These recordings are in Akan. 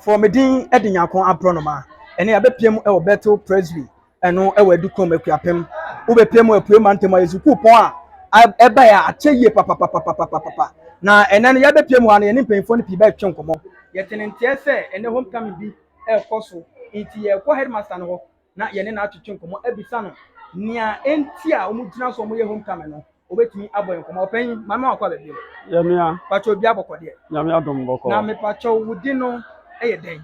Fɔ me din de Nyankɔn abrɔnoma ɛne abɛpia mu wɔ Bethel Presby ɛno wɔ Adukurom Akuapem wobɛpia mu Apuei Mantam ayɛ sukuu pɔn a ɛbaɛ a akyɛ yie papapapapapapa na ɛnɛ no yɛabɛpia mu hɔ a na yɛne mpanyinfoɔ no pii bɛretwe nkɔmɔ. Yɛte ne nteɛ sɛ ɛnɛ homecoming bi ɛrekɔ so nti yɛrekɔ headmaster no hɔ. na yɛne no atwetwe nkɔmmɔ, abisa no nea enti a wɔgyina so a wɔyɛ homecoming no, obetumi abɔ yɛn nkɔmmɔ. Ɔpanyin, maame wakɔ abɛ bio. Yɛ nua. Pakyɛ obi abɔkɔ deɛ. Nyame adom bɔkɔ. Na mepakyɛ wo di no yɛ dɛn?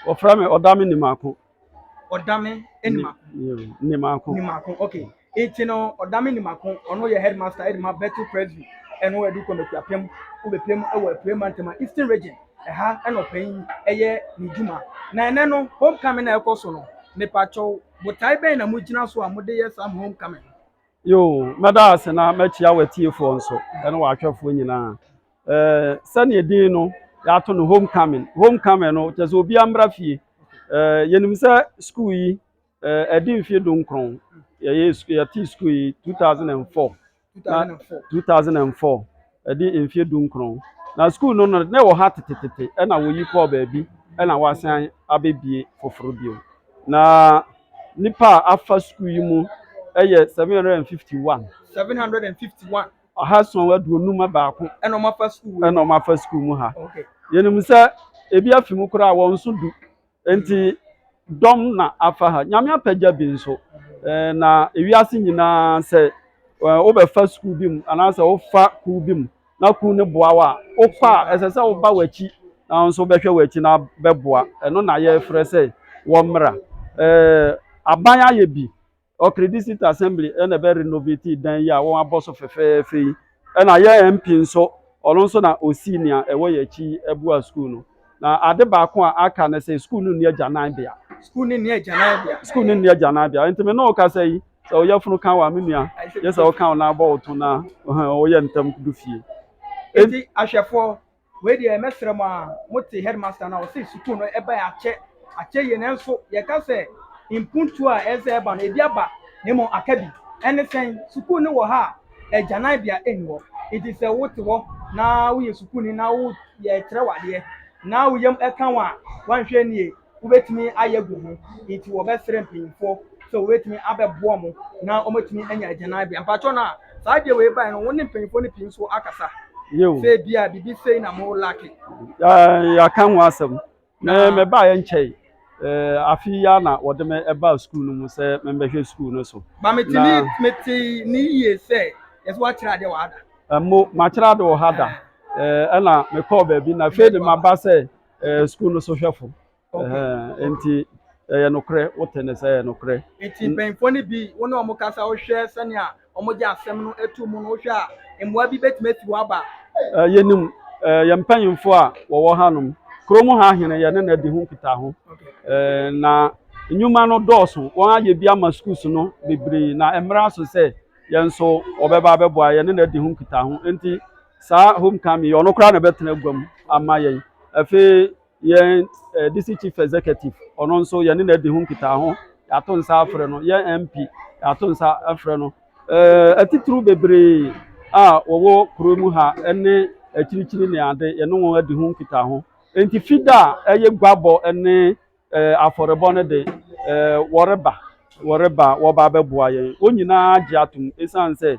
Wɔfrɛ me Ɔdame Nimako. Ɔdame Nimako. Nimako. Nimako, okay. Ntsi no ɔda me nyim ako, ɔno yɛ headmaster dze ma Bethel Presby no Adu Kwam Ekuapɛn mu, Wobepira mu wɔ Epuei Mantam a, Eastern Region. Ha na ɔpanyin yɛ n'edwuma. Na ndɛ no homecoming a ɔkɔ so no, mepaakyɛw, botae bɛn na mugyina so a mode yɛ saa homecoming no? Yoo, mɛda ase na makyia w'atsiefoɔ nso ne w'ahwɛfoɔ nyinaa. Sɛdeɛ din no yɛato no homecoming, homecoming no kyerɛ sɛ obiara mmra fie. Yɛnim sɛ sukuu yi Eh, ɛdi mfie du nkron yɛyɛ yɛte sukuu yi two thousand and four na two thousand and four ɛdi mfie du nkron na sukuu no no na ɛwɔ ha tetetete ɛna wɔyi kɔɔ baabi ɛna wɔasan abɛbie foforɔ bio na nipa a afa sukuu yi mu ɛyɛ seven hundred and fifty one. seven hundred and fifty one. ɔha sɔn aduonum baako. ɛna wɔn afa sukuu mu. ɛna wɔn afa sukuu mu ha. yɛnum sɛ ebi afi mu koraa wɔn nso du. Enti dɔm na afa ha. Nyame apɛgya bi nso. Ɛɛ na ewiase nyinaa sɛ wobɛfa sukuu bi mu anaasɛ wofa kuw bi mu na kuw no boa wo a, wokɔ a ɛsɛ sɛ woba w'akyi na wo nso bɛhwɛ w'akyi na bɛboa. Ɛno na yɛfrɛ sɛ wɔmmra. Ɛɛ aban ayɛ bi. Okri District Assembly na ɛbɛ renovate dan yi a wɔn abɔ so fɛfɛɛfɛ yi. Ɛna yɛn MP nso, ɔno nso na osii nea ɛwɔ yɛn akyi abua sukuu no. Na ade baako a aka ne sɛ sukuu no nni agyananbea. Sukuu no nni agyananbea. Sukuu no nni agyananbea. Nti me ne wo kasa yi, sɛ ɔyɛ funu kan wa me nua, yɛ sɛ ɔka wo nan bɔ wo to na ɔyɛ ntɛm du fie. Nti ahwɛfoɔ, Wei deɛ mɛsrɛ mo aa mote headmaster no a ɔse sukuu no ɛbɛn akyɛ akyɛ yie nanso yɛka sɛ mpuntuo a ɛsɛ ɛba no ebi aba na mmom aka bi ɛne sɛn sukuu no wɔ ha a agyananbea ɛnni hɔ nti sɛ wote hɔ na woyɛ sukuuni na wo yɛkyerɛ wo adeɛ na wo yam ɛka wo a wanhwɛ nie wobɛtumi ayɛ agu ho nti wɔbɛsrɛ mpanyimfoɔ sɛ wɔbɛtumi abɛboa mo na wɔatumi anya agyananbea mpakyɛw no a saa adeɛ wei bae no wo ne mpanyimfoɔ no pii nso akasa sɛ bi a biribi sei na mo lake yɛaka ho asɛm na mɛbaeɛ nkyɛe Eh, afe yi ara na wɔde me ɛbaa sukuu no mu sɛ membɛhwɛ sukuu no so ba metumi mete ne yie sɛ yɛsɛ woakyerɛ adeɛ wɔ ada mo makyerɛ ade wɔ ha da Eh, ɛna mekɔɔ baabi na afei de maba sɛ Eh, school no so hwɛfo. Eh, nti ɛyɛ nokorɛ wote ne sɛ ɛyɛ nokorɛ nti mpanyimfoɔ no bi wo ne wɔn kasa wohwɛ sɛnea wɔgye asɛm no to mu no wohwɛ a mmoa bi bɛtumi afi hɔ aba eh, yɛnim eh, yɛn mpanyimfoɔ a wɔwɔ hanom kurom ha hene yɛne na adi ho nkitaho eh, na nnwuma no dɔɔso wɔn ayɛ bi ama schools no bebree na mmara so sɛ yɛn nso wɔbɛba abɛboa yɛne na adi ho nkitaho nti Saa homecoming yi, ɔno koraa na ɛbɛtena agua mu ama yɛn. Afei yɛn eh, DC Chief Executive, ɔno nso yɛne na adi ho nkitaaho, yɛato nsa afrɛ no. Yɛn MP, yɛato nsa afrɛ no. Eh, atitiriw bebree a wɔwɔ kuro mu ha ne akyirikyiri ne ade, yɛne wɔn adi ho nkitaaho. Enti fida a ɛyɛ guabɔ ne eh, afɔrebɔ no de, eh, wɔreba, wɔreba, wɔba abɛboa yɛn. Wɔn nyinaa gye atom esiane sɛ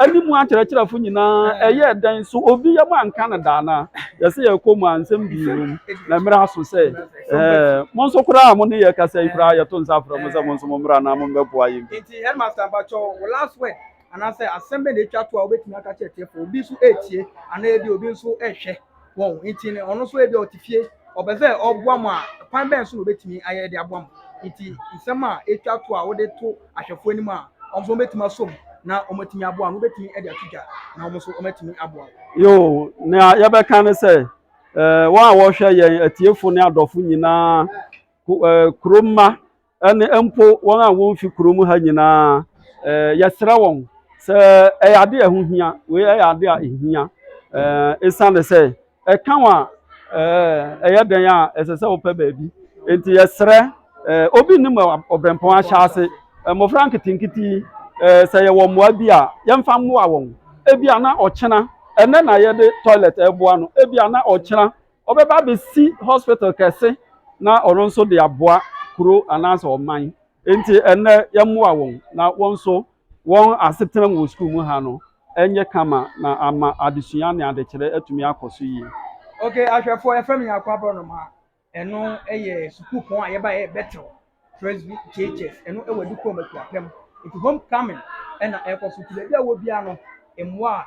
Ɛne mu akyerɛkyerɛfo nyinaa ɛyɛɛ dɛn? So obi yam anka no da anaa? Yɛsɛ yɛkɔ mu a, nsɛm pii wom, na mmere aso sɛ ɛɛ, mo nso koraa a mo ne yɛn rekasa yi koraa, yɛto nsa frɛ mo sɛ mo nso mommra na mommɛboa yɛn bi. Nti Headmaster, mpakyɛw, wo last word anaasɛ asɛm bɛn na etwa to a wobɛtumi aka akyerɛ atiefo? Obi nso retie, anaa ebia obi nso rehwɛ. wɔn nti no ɔno nso ebi ɔte fie ɔbɛ sɛ ɔboa mu a kwan bɛn so na obetumi ayɛ de aboa mu nti nsɛm a etwa to a wode to ahwɛfo anim a wɔn nso betumi asom na wɔatumi aboa no wobetumi de ato dwa na wɔn nso wɔatumi aboa. yoo nea yɛbɛka ne sɛ ɛɛ wɔn a wɔhwɛ yɛn atiefo ne adɔfo nyinaa ɛɛ kurom mma. ɛne mpo wɔn a wɔmfi kurom ha nyinaa eh, yɛsrɛ wɔn sɛ ɛyɛ ade a ɛho hia wei ɛyɛ ade a ɛhia eh, ɛsiane sɛ ɛka wɔn a eh, ɛyɛ dɛn a ɛsɛ sɛ wopɛ baabi nti yɛsrɛ eh, obi nnim ɔbrɛmpɔn ahyɛ ase eh, mmɔfra nketenkete eh, sɛ yɛwɔ mmoa bi a yɛmfa mmoa wɔn ebi a na ɔkyena ɛnɛ na yɛde toilet ɛboa no ebi a na ɔkyena Ɔbɛba abɛsi hospital kɛse na ɔno nso de aboa kuro anaasɛ ɔman. Enti ɛnnɛ yɛmmoa wɔn na wɔn nso wɔn asetena mu wɔ sukuu mu ha no nyɛ kama na ama adesua ne adekyerɛ atumi akɔ so yie. Ok, ahwɛfoɔ, yɛfrɛ me Nyarko Aborɔnoma, ɛno yɛ sukuupɔn a yɛba yɛ Bethel Presby JHS, ɛno wɔ Adikurom Akuapem, nti homecoming na ɛrekɔ so, nti baabi a wɔ biara no, mmoa a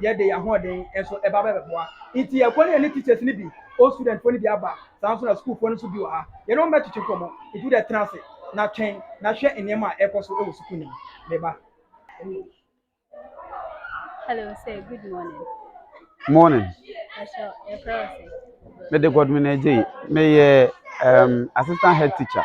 yɛde yɛn ahoɔden nso ɛba bɛbɛboa. Nti yɛkɔ ne yɛne teachers no bi, old student foɔ no bi aba, saa nso na sukuufoɔ no nso bi wɔ ha. Yɛne wɔn bɛtwetwe nkɔmmɔ, nti wo deɛ tena ase na twɛn na hwɛ nneɛma a ɛrekɔ so wɔ sukuu no mu. Me ba. Hello sir, good morning. Morning. Ɛhyɛ ɛfrɛ wo sɛ. Mede Godwin Agye, meyɛ um, assistant head teacher.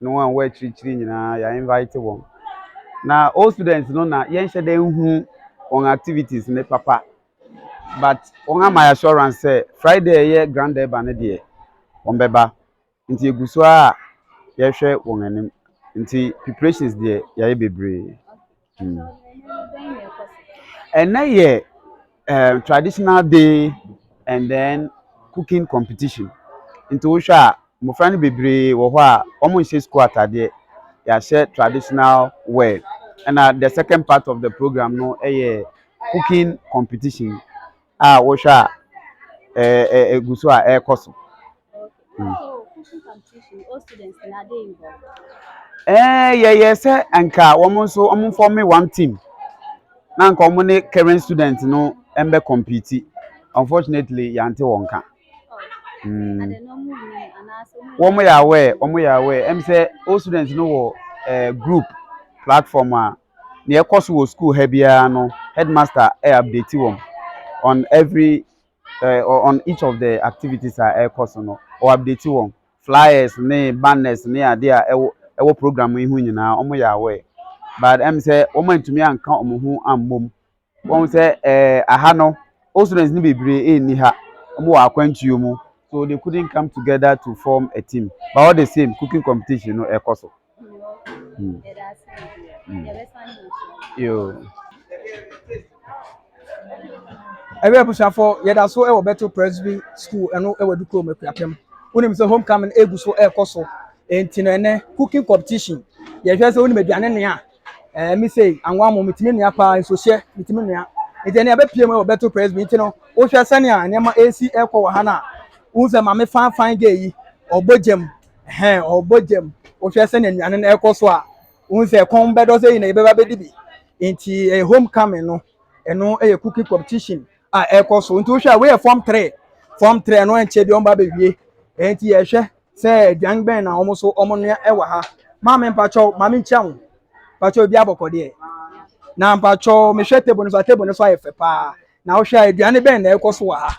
ne wɔn a wɔwɔ akyirikyiri nyinaa yɛ invite wɔn na old students no na yɛnhyɛ dɛ nhu wɔn activities ne papa but wɔn ama assurance sɛ friday ɛyɛ grand urban no deɛ wɔn bɛba nti egu so a yɛhwɛ wɔn anim nti preparations deɛ yɛayɛ bebree. Ɛnɛ yɛ ɛɛ traditional day and then cooking competition. Nti wohwɛ a, mmofra no bebree wɔ hɔ a, wɔnhyɛ sukuu ataadeɛ. Yɛahyɛ traditional wear. Ɛna the second part of the programme no yɛ cooking competition a wohwɛ a ɛɛ ɛɛ ɛgu so a ɛrekɔ so. Ɛɛ yɛyɛ sɛ anka wɔn nso wɔn fɔme one team na anka wɔn ne current student no bɛ kɔmpiti unfortunately yɛante wɔn nka wɔn yɛ aware wɔn yɛ aware ɛmu sɛ old student no wɔ ɛɛ group platform a nea ɛkɔ so wɔ sukuu ha biara no headmaster ɛyɛ update wɔn on every. on each of the activities a ɛrekɔ so no ɔ update wɔn flyers ne banners ne adeɛ a ɛwɔ ɛwɔ program yi ho nyinaa wɔn yɛ aware but ɛm sɛ wɔn antumi anka wɔn ho ammom wɔn sɛ ɛɛ aha no old students ne bebree ɛnni ha wɔn wɔ akwantuo mu so they couldn't come together to form a team but all the same cooking competition no ɛrekɔ so. Ɛwɛ abusuafo yɛda so wɔ Bethel Presby School ɛno wɔ Adukuro mu Akuapem wonim sɛ home coming egu so ɛrekɔ so nti no ɛnɛ cooking competition yɛhwɛ sɛ wonim aduane nea ɛɛ mi sɛ anwa mo metumi nua paa nso hyɛ metumi nua nti ɛnɛ abɛpie mu wɔ Bethel Presby nti no wohwɛ sɛnea nneɛma ɛresi ɛrekɔ wɔ ha no a wohu sɛ maame fanfan gay yi ɔbɔ gyam hɛn ɔbɔ gyam wohwɛ sɛ na nnuane no ɛkɔ so a wohu sɛ kɔn bɛdɔ sɛ yɛ na yɛbɛba bɛdi bi nti ɛyɛ home coming no ɛno ɛyɛ cooking competition a ɛkɔ so nti wohwɛ a woyɛ form three form three no ɛnkyɛ bi ɔmba bɛwie nti yɛhwɛ sɛ aduan bɛn na wɔn so wɔn noa ɛwɔ ha maame mpakyɛw maame nkyɛn ho mpakyɛw obi abɔkɔdeɛ na mpakyɛw mehwɛ table no so a table no so ayɛ fɛ paa na wohwɛ a aduane bɛn na ɛkɔ so wɔ ha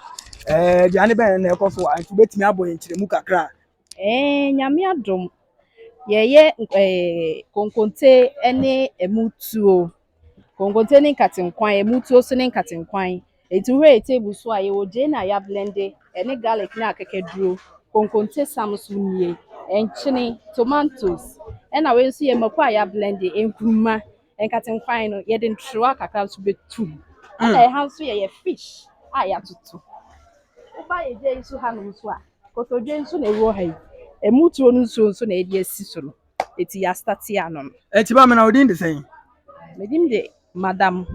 ɛɛ aduane bɛn na ɛkɔ so wɔ ha nti wobɛtumi abɔ yɛn nkyerɛmu kakra a Eeii Nyame adom, yɛyɛ konkonte ne ɛmu tuo. Konkonte ne nkate nkwan, ɛmu tuo nso ne nkate nkwan. Nti wohwɛ yɛn table so a, yɛwɔ gyeene a yɛablɛnde ne garlic ne akakaduro. Konkonte sam nso nie, nkyene, tomantos, ɛna wei nso yɛ mako a yɛablɛnde, nkruma. Nkate nkwan no, yɛde ntrowa kakra nso bɛto mu. Ɛna ɛha nso yɛyɛ fish a yɛatoto. Woba yɛn gya yi so hanom nso a. Kotodwe nso na ɛwɔ ha yi. Ɛmu tuo no nsuo nso na yɛde asi so no. Ɛti yɛ astate anom. Ɛti ba me na wo din de sɛn? Me din de Madam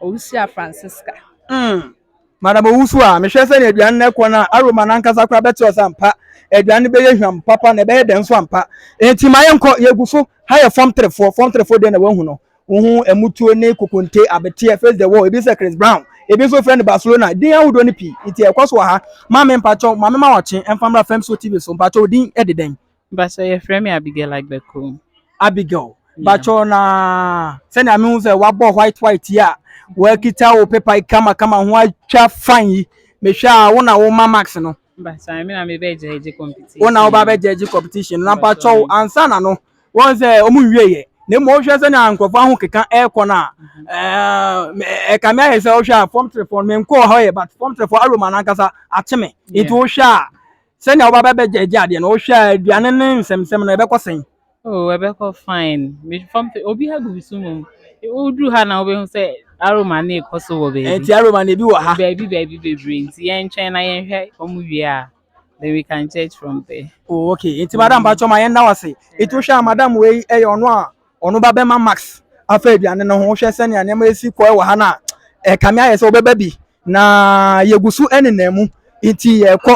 Owusua Francisca. Mm. Madam Owusu a, mehwɛ sɛ na aduane no ɛkɔ na aroma no ankasa koraa bɛte ɔsɛ ampa. Aduane no bɛyɛ hwam papa na ɛbɛyɛ dɛn nso ampa. Ɛti ma yɛnkɔ, yɛgu so. Ha yɛ fam terefoɔ, fam terefoɔ deɛ na wahu no. Wohu mmutuo ne kokonte, abeteɛ, face the wall, ebi sɛ Chris Brown, ebi nso frɛ no Barcelona, din ahodoɔ no pii, nti ɛkɔ so wɔ ha. Maame mpakyɛw, Maame ma wɔkye ɛmfa mmra Femso TV so, mpakyɛw wo din de dɛn? Mpakyɛw yɛfrɛ me Abigail Agbekum. Abigail, mpakyɛw na sɛnea mehu sɛ wabɔ white white yi a, wakita wo pepa yi kama kama ho atwa fine yi, mehwɛ a wo na woma marks no. Wo na woba bɛ judge competition na mpa kyɛw ansa na no wɔn sɛ wɔn nwie yɛ na mmom wohwɛ sɛ na nkurɔfoɔ aho keka ɛrekɔ no a ɛka me ayɛ sɛ wohwɛ a fam telefoɔ no menkɔɔ hɔ yɛ but fam telefoɔ aroma no ankasa akye me nti wohwɛ a sɛnea woba bɛ bɛ judge adeɛ no wohwɛ a aduane ne nsɛmsɛm no ɛbɛkɔ sɛn Oh ɛbɛkɔ fine me fam fɛ obi ha gugu so mu woduru ha na wobɛhu sɛ aroma ne ɛkɔ so wɔ baabi ɛnti aroma ne ebi wɔ ha baabi baabi bebree nti yɛntwɛn na yɛnhwɛ wɔn wie a then we can judge from there. oh okay nti madam patwɔ ma yɛnda wase nti wohwɛ a madam wei ɛyɛ ɔno a ɔno ba bɛma max afa aduane no ho wohwɛ sɛnea nneɛma esi kɔ wɔ ha no a ɛkame ayɛ sɛ wobɛba bi na yɛgu so nenam mu nti yɛkɔ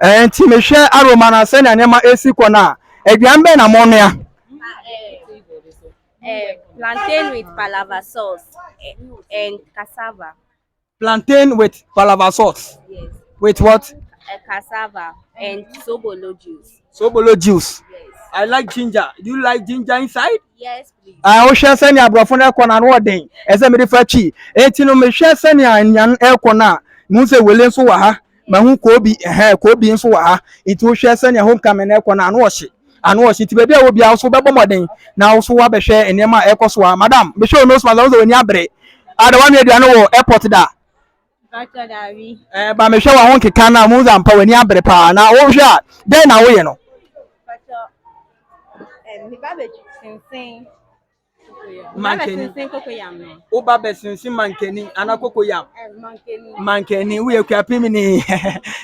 Enti mehwɛ Aroma na sɛnea nneɛma resi kɔ no a, aduan bɛn na monoa? Plantain with palava sauce and cassava. Plantain with palava sauce? Yes. With what? Uh, cassava and sobolo juice. Sobolo juice? Yes. I like ginger. Do you like ginger inside? Yes, please. Ah, o share send your brofon e kona no den. E se me de fa chi. E ti no me share send your nyan e kona. Mu se wele nso wa ha. mahu koobi ɛhɛn koobi nso wɔ ha nti wohwɛ sɛnea homecoming no ɛkɔ no ano ɔhye ano ɔhye nti baabi a wɔ biara nso bɛbɔ mmɔden na nso wabɛhwɛ nneɛma a ɛkɔ so a madam mehwɛ wo nose mask ahosuo wɔ ani abere ada wɔn anua aduane wɔ airport da ɛɛ ba mehwɛ wɔn ho nkeka na mo nza mpa wɔn ani abere paa na wohwɛ a dɛn na woyɛ no. mankani wo ba bɛsensen mankani ana kokoyam mankani woyɛ kuapimini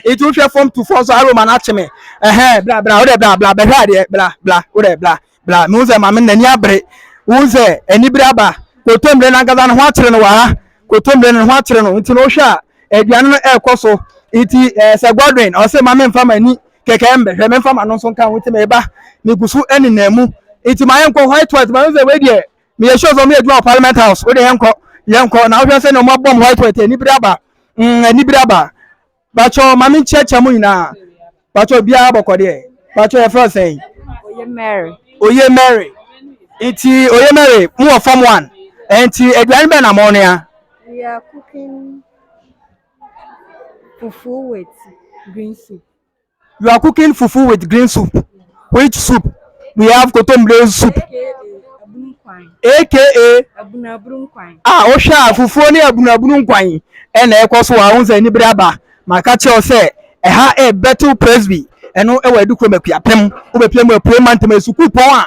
ɛti wohwɛ fam tu fam so aroma no akye me ɛhɛn bla bla wodɛ bla bla bɛhwɛ adeɛ bla bla wodɛ bla bla mehu sɛ maame n'ani abere wohu sɛ anibere aba kotommire no ankasa no ho akyere no wɔ ha kotommire no ho akyere no nti no wohwɛ a aduane no ɛrekɔ so nti ɛɛ sɛ godwin ɔsɛ maame mfa m'ani kɛkɛ mbɛ hwɛ memfa m'ano nso nka ho nti meba megu so nenam mu nti ma yɛnkɔ white white ma sɛ wei deɛ meyɛ sure sɛ ɔmo yɛ adwuma wɔ parliament house wode yɛnkɔ yɛnkɔ na wohwɛ sɛ na ɔmo abɔm white white anibere aba mm anibere aba bakyɛ ma menkyerɛkyerɛ mo nyinaa bakyɛ obiara bɔkɔdeɛ bakyɛ yɛfrɛ sɛn oye mary oye mary nti oye mary mo wɔ form one nti aduane bɛn na mo noa we are cooking fufuo with green soup. You are cooking fufu with green soup. Which soup? We have kotomire soup. AKA abunabunu nkwan. Ah, wohwɛ a fufuo ne abunabunu nkwan ɛna ɛkɔ so a, wohu sɛ anibere aba. Maka kyerɛ wo sɛ ɛha ɛyɛ Bethel Presby, ɛno ɛwɔ Adukrom Akuapem. Wobɛpia mu apue Mantam, ɛyɛ sukuupɔn a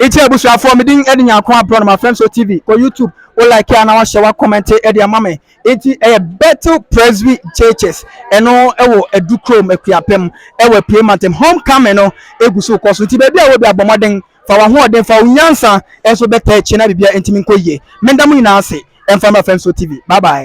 Nti abusuafoɔ me din ɛde nyanko abrɔ no ma fɛm so tv kɔ youtube wo like a na wahyɛ wa comment ɛde ama me nti ɛyɛ Bethel Presby churches ɛno ɛwɔ adu krom akuapem ɛwɔ apue mantem homecoming no egu so kɔ so nti baabi a wɔ bi abɔ mmɔden fa wahoɔden fa wo nyansa ɛnso bɛtɛ akyi na bibia ntimi nkɔ yie menda mo nyinaa ase ɛmfa ma fɛm so tv bye bye.